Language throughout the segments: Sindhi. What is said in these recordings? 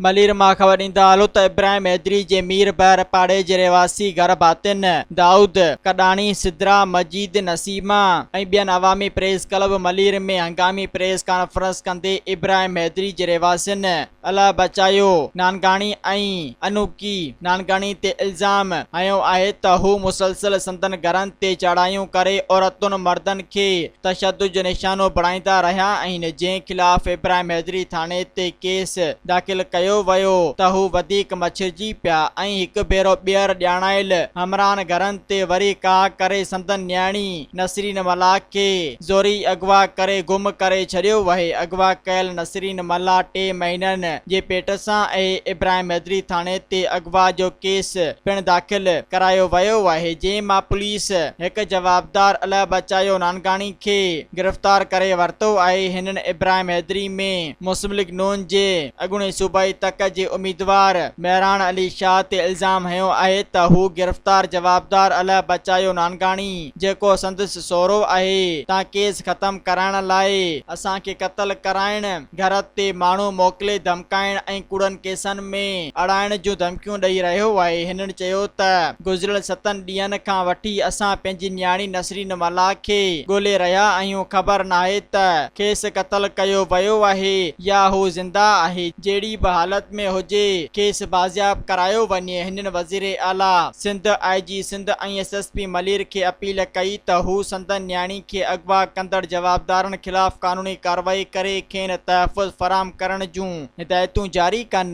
ملير مان خبر ايندا علو ته ابراهيم حيدري جي مير بحر پاڙي جي رهواسي گهر ڀاتين دائود ڪڏاڻي، سدرا، مجيد، نسيما ۽ ٻين عوامي پريس ڪلب ملير ۾ هنگامي پريس ڪانفرنس ڪندي ابراهيم حيدري جي رهواسين الله بچايو نانگاڻي ۽ انوڪي نانگاڻي تي الزام هنيو آهي ته هو مسلسل سندن گهرن تي چڙهايون ڪري عورتن مردن کي تشدد جو نشانو بڻائيندا رهيا آهن جنهن خلاف ابراهيم حيدري ٿاڻي تي ڪيس داخل ڪيو ويو ته هو وڌيڪ مڇرجي پيا ۽ هڪ ڀيرو ٻيهر ڄاڻايل همراهن گهرن تي وري ڪاهه ڪري سندن نياڻي نسرين ملاح کي زوري اغوا ڪري گم ڪري ڇڏيو وهي اغوا ڪيل نسرين ملاح ٽي مهينن جي پيٽ سان اهي ابراهيم حيدري ٿاڻي تي اغوا جو ڪيس پڻ داخل ڪرايو ويو آهي جنهن مان پوليس پوليس هڪ جوابدار الهه بچايو نانگاڻي کي گرفتار ڪري ورتو آهي، هنن ابراهيم حيدري ۾ مسلم ليگ نون جي اڳوڻي صوبائي تڪ جي اميدوار مهراڻ علي شاهه تي الزام هنيو آهي ته هو گرفتار جوابدار الهه بچايو نانگاڻي جيڪو سندس سهرو آهي تان ڪيس ختم ڪرائڻ لاء اسان کي قتل ڪرائڻ گهر تي ماڻهو موڪلي ڌمڪائڻ ۽ ڪوڙن ڪيسن ۾ اڙائڻ جون ڌمڪيون ڏئي رهيو آهي هنن چيو ته گذريل ستن ڏينهن کان وٺي اسان پنهنجي نياڻي نسرين ملاح کي ڳولي رهيا آهيون خبر ناهي ته کيس قتل ڪيو ويو آهي يا هو زنده آهي جهڙي به حالت ۾ هجي کيس بازياب ڪرايو وڃي هنن وزيراعليٰ Sindh I G Sindh ۽ S S P Malir کي اپيل ڪئي ته هو سندن نياڻي کي اغوا ڪندڙ جوابدارن خلاف قانوني ڪارروائي ڪري کين تحفظ فراهم ڪرڻ جون هدايتون جاري ڪن.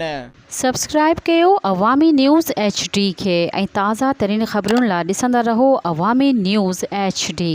سبسڪرائب ڪيو عوامي نيوز ايڇ ڊي کي ۽ تازه ترين خبرن لا ڏسندا رهو عوامي نيوز ايڇ ڊي.